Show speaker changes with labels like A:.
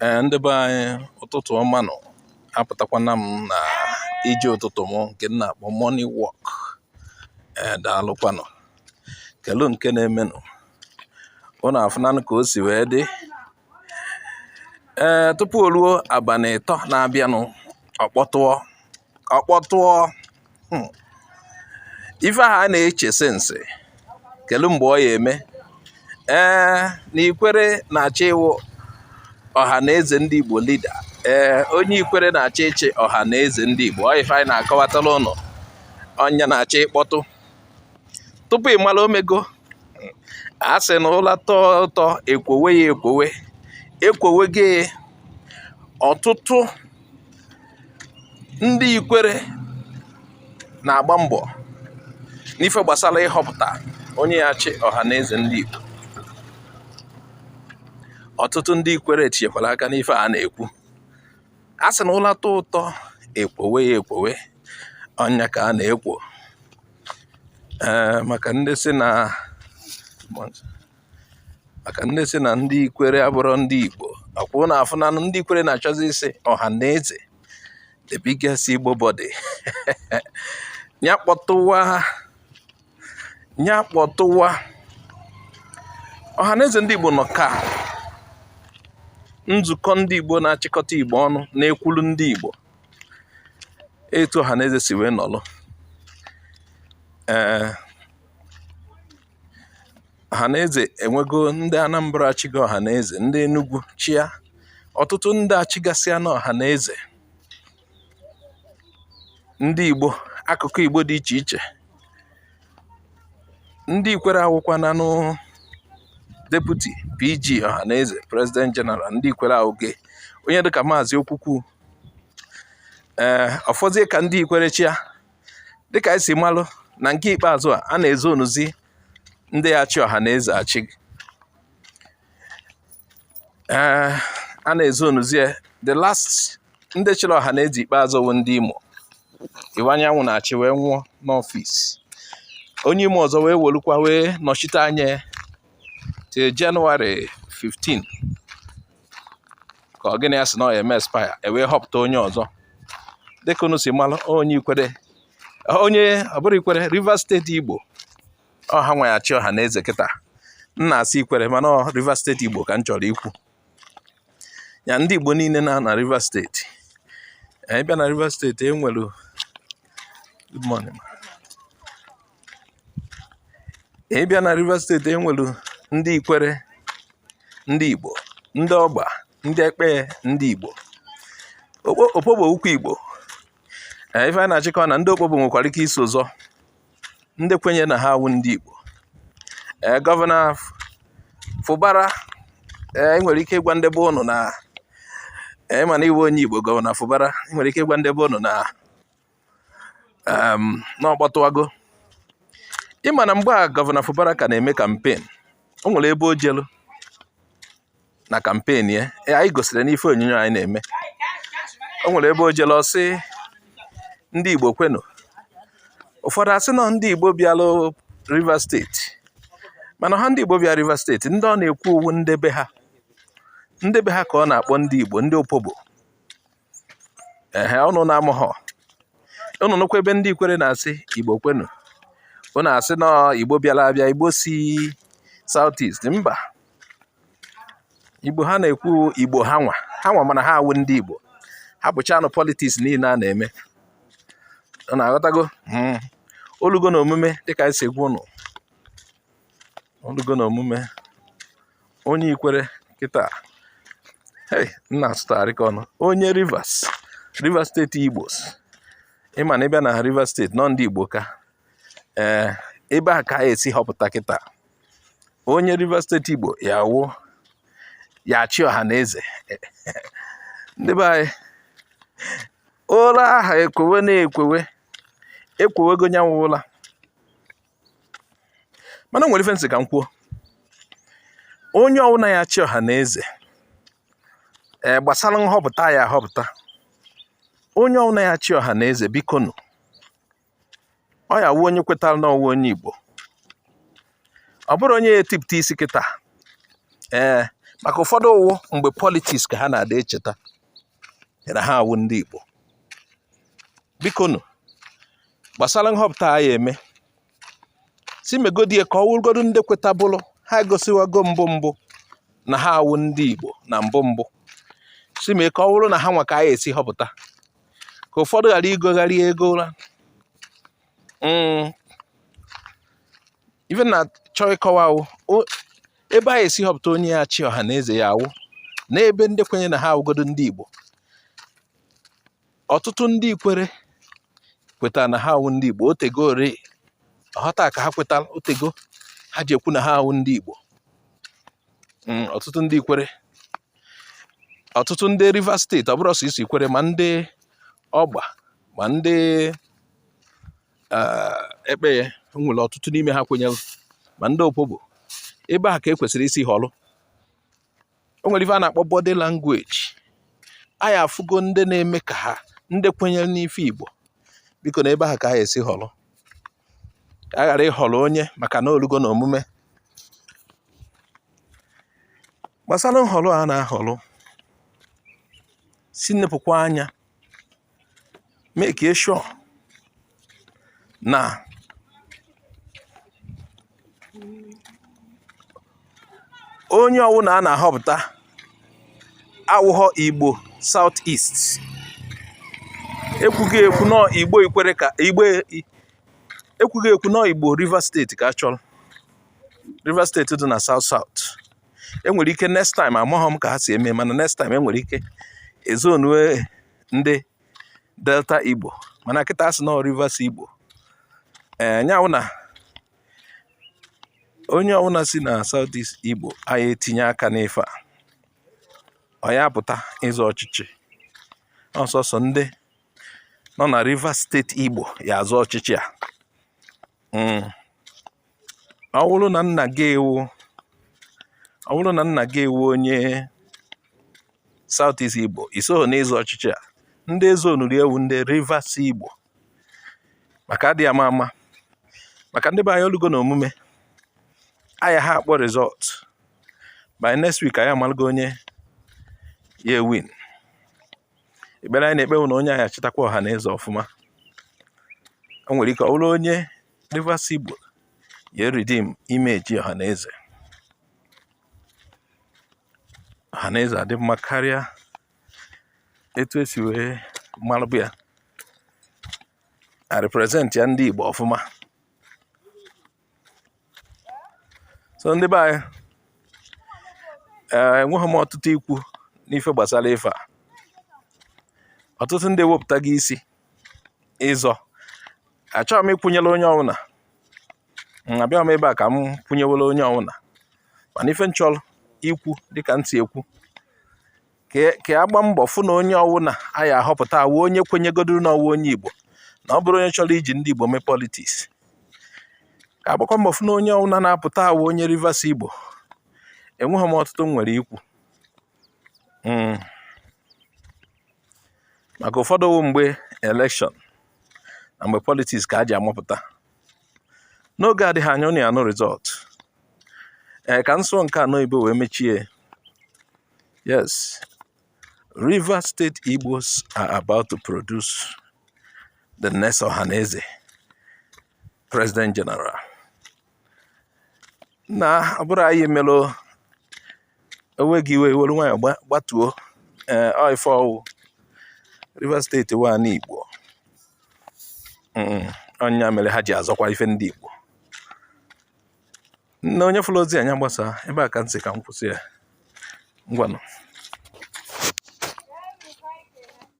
A: Ee, ndị be anyị ụtụtụ ọma nụ apụtakwana m na ije ụtụtụ m nke m na-akpọ morning walk ee daalụkwanụ kelu nke na-emenụ ụnụ afụnanụ ka o si wee dị ee tupu o ruo abalị ịtọ na-abịanụ ọ kpọtụọ ọ kpọtụọ hmm. ife ahụ a na-eche since kelu mgbe ọ ya eme ee na ikwere na-achọ ịwụ ọha na eze ndị Igbo leader ee onye ikwere na-achọ ịchị ọha na eze ndị Igbo ọ ife anyị na-akọwatara ụnụ ọ nya na-achọ ịkpọtụ tupu ị mara o mego a sị na ụla tọọ ụtọ ekwowe ya ekwowe ekwowege ọtụtụ ndị ikwere na-agba mbọ n'ife gbasara ịhọpụta onye ya achị ọha na eze ndị Igbo ọtụtụ ndị ikwere tinyekwara aka n'ife a na-ekwu a sị na ụla tọọ ụtọ ekwowe ya ekwowe ọ nya ka a na-ekwo ee maka ndị sị na maka ndị sị na ndị ikwere abụrụ ndị igbo ọ kwa ụnụ afụna ndị ikwere na-achọzi isi ọha na eze the biggest igbo body ya kpọtụwa ya kpọtụwa ọhaneze ndị Igbo nọ ka nzukọ ndị Igbo na-achịkọta Igbo ọnụ na-ekwulu ndị Igbo etu ọhaneze si wee nọlụ ee ọhaneze enwego ndị anambra achịgo ọhaneze ndị enugwu chịa ọtụtụ ndị achịgasịana ọhaneze ndị igbo akụkụ igbo dị iche iche ndị ikwere awụkwananụ deputy PG ọhaneze president general ndị ikwere awụge onye dịka maazị Okwukwu ee ọ fọzie ka ndị ikwere chịa dịka anyị si malụ na nke ikpeazụ a a na-ezonuzi ndị ya achị ọha na eze achị eh, a na-ezonuzi the last ndị chịrị ọha na eze ikpeazụ wụ ndị Imo Iwuanyanwụ na-achị wee nwụọ n'ọfịs onye Imo ọzọ wee welukwa wee nọchite anya till January 15 ka ọ gịnị ya sị na ọ ya eme expire e wee họpụta onye ọzọ dịka unu si mara onye ikwere onye ọ bụrụ ikwere Rivers steeti Igbo ọ ha nwa ya achị ọha na eze kịta m na-asị ikwere mana Rivers steeti Igbo ka m chọrọ ikwu ya ndị Igbo niile na na Rivers steeti anyị bịa na Rivers steeti e nwere good morning ị bịa na Rivers steeti e nwere ndị ikwere ndị Igbo ndị ọgba ndị ekpeye ndị Igbo opobo ukwu Igbo e, ife a na-achọ ịkọ na ndị opobo nwekwara ike iso ụzọ ndị kwenye na ha awụ ndị Igbo e, gọvanọ Fubara i nwere ike ịgwa ndị be ụnụ na ị ma na ị wụ onye Igbo gọvanọ Fubara nwere ike ịgwa ndị be ụnụ na um, na ọ kpọtụwago ị ma na mgbe a gọvanọ Fubara ka na-eme kampen o nwere ebe o jelu na kampen ya e, anyị gosiri n'ife onyonyo anyị na-eme o nwere ebe o jelu ọ sị ndị Igbo kwenu ụfọdụ asị n'ọ ndị Igbo bịalụ Rivers steeti mana ha ndị Igbo bịa Rivers steeti ndị ọ na-ekwu ọ wụ ndị be ha ndị be ha ka ọ na-akpọ ndị Igbo ndị opobo ehe ụnụ na-amaghọ ụnụ nụkwa ebe ndị ikwere na-asị igbo kwenu ụnụ asị na igbo bịala abịa igbo si south east mba igbo ha na-ekwu igbo ha nwa ha nwa mana ha awụ ndị igbo hapụchaanụ politiks niile a na-eme ụnụ aghọtago hmm. o lugo na omume dịka anyị si agwa ụnụ o lugo na omume onye ikwere kịta hey m na-asụtagharị ka ọnụ onye rivers rivers steeti igbos ị ma na ị bịa na rivers steeti n'ọ ndị igbo ka ee eh, ebe a ka a esi họpụta kịta onye rivers steeti igbo ya wụ ya-achị ọha na eze ndị be anyị ụra aha ekwewe na-ekwewe ekwewego nyanwụ ụla mana nwere ife m sị ka m kwuo onye ọwụna ya-achị ọha na eze ee eh, gbasara nhọpụta a ya-ahọpụta onye ọwụna ya-achị ọha na eze biko nụ ọ ya-awụ onye kwetara n'ọ wụ onye igbo ọ bụrọ onye ya-etipụta isi kịta ee eh, maka ụfọdụ ọ wụ mgbe politiks ka ha na-adị echeta na ha awụ ndị Igbo bikonu gbasara nhọpụta a ya-eme sị megodi ka ọ wụrụgodu ndị kwetaburu ha gosiwago mbụ mbụ na ha awụ ndị Igbo na mbụ mbụ sị mee ka ọ wụrụ na ha nwa ka a ya-esi họpụta ka ụfọdụ ghara igogharị ego ụra mm. ife m na-achọ ịkọwa ebe a ya-esi họpụta onye ya-achị ọha na eze ya-awụ n'ebe ndị kwenye na ha awụgodo ndị Igbo ọtụtụ ndị ikwere kwetara na ha awụ ndị Igbo o tego ọ bụrọ taa ka ha kwetara o tego ha ji ekwu na ha awụ ndị Igbo hmm, ọtụtụ ndị ikwere ọtụtụ ndị Rivers steeti ọ bụrọ sọsọ ikwere ma ndị ọgba ma ndị Ekpeye nwere ọtụtụ n'ime ha kwenyere ma ndị Opobo ebe a ka e kwesịrị isi họrọ o nwere ife a na-akpọ body language anyị afụgo ndị na-eme ka ha ndị kwenyere n'ife Igbo biko na ebe ahụ ka anyị esi họrọ a ghara ịhọrọ onye maka na o lugo na omume gbasara nhọrọ a na-ahọrọ si nepụkwa anya make sure na onye ọwụna a na-ahọpụta awụghọ Igbo South East ekwugo ekwu na ọ Igbo Ikwerre ka ekwugo ekwu na ọ Igbo Rivers steeti ka a chọrọ Rivers steeti dị na South South enwere ike next time amaghọ m ka ha si eme mana next time enwere ike ezonue ndị delta igbo mana kịta a sị na ọ rivers igbo ee eh, nya wụ na onye ọbụla si na south east igbo anyị etinye aka n'ife a ọ ya pụta ịzọ ọchịchị ọ sọsọ ndị nọ na rivers steeti igbo ya azọ ọchịchị a hmm. ọ bụrụ na nna gị ewu ọ bụrụ na nna gị ewu onye South East Igbo isoghị n'ịzọ ọchịchị a ndị ezonuru ewu ndị Rivers Igbo maka adị ama ama maka ndị be anyị o lugo na omume aya ha akpọ result by next week anyị amalụgo onye ya win ekpere anyị na-ekpe wụ na onye anyị achịtakwa Ọhanaeze ọfụma o nwere ike ọ bụrụ onye Rivers Igbo ya eredeem image Ọhanaeze Ọhanaeze adị mma karịa etu esi wee malụbụ ya a represent ya ndị Igbo ọfụma so ndị be anyị eh, enweghị m ọtụtụ ikwu n'ife gbasara ife a ọtụtụ ndị ewepụtago isi ịzọ achọghị m ịkwụnyere onye ọwụna abịaghị m ebe a ka m kwụnyewere onye ọwụna mana ife m chọrọ ikwu dịka ntị ekwu ka a gba mbọ fụ na onye ọwụna a ya ahọpụta awụ onye kwenyegodoro na ọ wụ onye Igbo na ọ bụrọ onye chọrọ iji ndị Igbo mee politiks ka agbakwa mbọ fụ na onye ọwụna na-apụta awụ onye Rivers Igbo enweghị m ọtụtụ m nwere ikwu hmm. maka ụfọdụ wụ mgbe elekshọn na mgbe politiks ka a ji amapụta n'oge adịghị anya ụnụ anụ result ee eh, ka m sụọ nke a n'oyibo wee mechie Yes, Rivers State Igbos are about to produce the next Ohaneze President General. Na ọ bụrụ anyị melụ o wee gị iwe were nwayọ gbatuo ee eh, ife ọ wụ Rivers State wa n'Igbo ọ ya mere ha ji azọkwa ife ndị Igbo nna onye fụrụ ozi anya gbasaa ebe a ka m sị ka m kwụsị ya ngwanụ